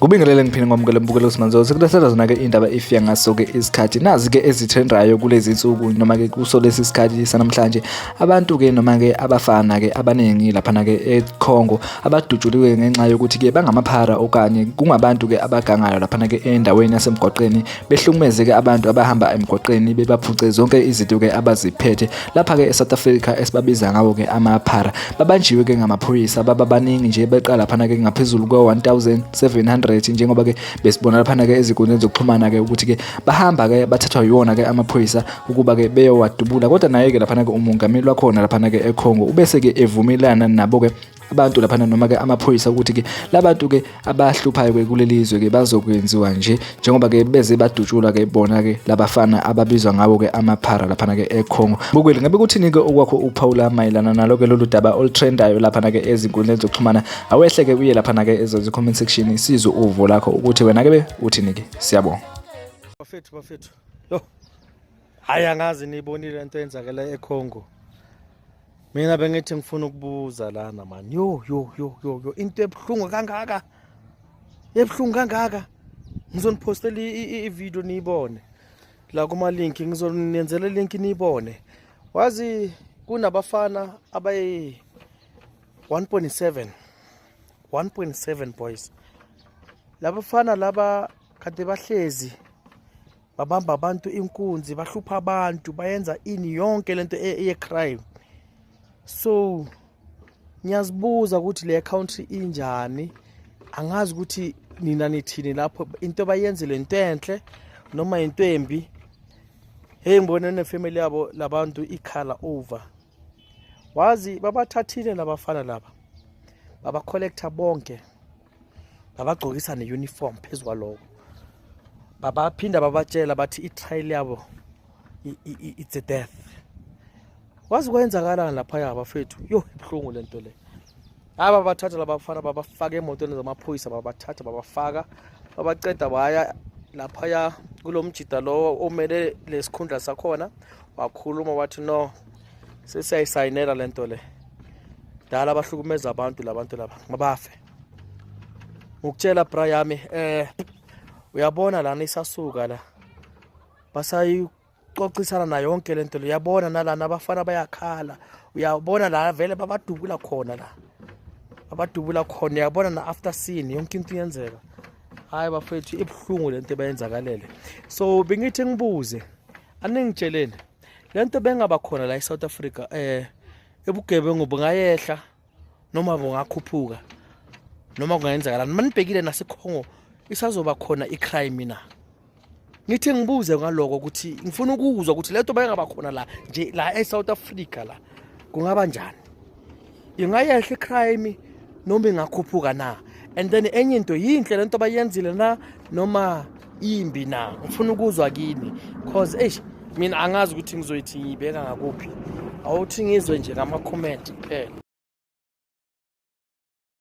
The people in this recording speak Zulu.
kubingelele ngiphinde ngomukele mbukelo simanzo sekulethelwa zona-ke indaba ifika ngaso-ke isikhathi nazi-ke ezitrendayo kulezi nsuku noma-ke kuso lesi sikhathi sanamhlanje Abantu ke noma ke abafana ke abaningi laphana ke eCongo abadutshuliwe ngenxa yokuthi ke bangamaphara okanye kungabantu ke abagangayo laphana ke endaweni yasemgwaqeni behlukumeze ke abantu abahamba emgwaqeni bebaphuce zonke izinto ke abaziphethe lapha ke eSouth Africa esibabiza ngawo ke amaphara babanjiwe ke ngamaphoyisa baba baningi nje beqala laphana ke ngaphezulu kwe-1700 njengoba ke besibona laphana ke ezinkundleni zokuxhumana ke ukuthi ke bahamba ke bathathwa yiwona ke amaphoyisa ukuba-ke beyowadubula kodwa naye-ke laphana-ke umongameli wakhona laphana-ke econgo ubese-ke evumelana nabo-ke abantu laphana noma-ke amaphoyisa ukuthi-ke labantu-ke abahluphayo-ke kuleli zwe-ke bazokwenziwa nje njengoba-ke beze badutshulwa-ke bona-ke labafana ababizwa ngabo-ke amaphara laphana-ke econgo bukweli ngabe kuthini-ke okwakho ukuphawula mayelana nalo-ke lolu daba olutrendayo laphana-ke ezinkundleni zokuxhumana awehle-ke uye laphana-ke ezozi-comment section sizwe uvo lakho ukuthi wena-ke be uthini-ke siyabonga bafethu bafethu Yo. Hayi angazi nibonile lento eyenzakela eCongo. Mina bengithi ngifuna ukubuza lana man. Yo yo yo yo yo into ebhlungu kangaka. Ebhlungu kangaka. Ngizonipostela i-video niyibone. La kuma link ngizonenzela link niyibone. Wazi kunabafana abayi 1.7 1.7 boys labafana laba kade bahlezi babamba abantu inkunzi bahlupha abantu bayenza ini yonke lento e-, eyecrime so ngiyazibuza ukuthi le country injani angazi ukuthi nina nithini lapho into bayenzile into enhle noma into embi hey ngibone nefamily yabo labantu ikhala over wazi babathathile labafana laba baba collector bonke babagqokisa ne-uniform phezu kwaloko babaphinda babatshela bathi i-trial yabo it's a death wazi kwenzakalani laphaya bafethu yo ibuhlungu le nto le hayi babathatha labafana babafaka emotweni zamaphoyisa babathatha babafaka babaceda baya laphaya kulo mjida lowo omele lesikhundla sakhona wakhuluma wathi no sesiyayisayinela le nto le dala abahlukumeza abantu labantu laba mabafe ngikutshela bra yami eh uyabona lana isasuka la basayicocisana na yonke le nto le uyabona nalana abafana bayakhala uyabona la vele babadubula khona la abadubula khona uyabona na after scene yonke into iyenzeka hayi bafethu ibuhlungu lento ebayenzakalele so bengithi ngibuze aningitsheleni le nto bengaba khona la e-south africa um ebugebengu bungayehla noma bungakhuphuka noma kungayenzakalani uma nibhekile nasekhongo isazoba khona i-crime na ngithe ngibuze ngaloko ukuthi ngifuna ukuzwa ukuthi le nto bayengaba khona la nje la e-south africa la kungaba njani ingayehla icrime noma ingakhuphuka na and then enye into yinhle lento bayenzile na noma imbi na ngifuna ukuzwa kini cause eish mina angazi ukuthi ngizoyithi ngiyibeka ngakuphi awuthi ngizwe nje ngama comment kuphela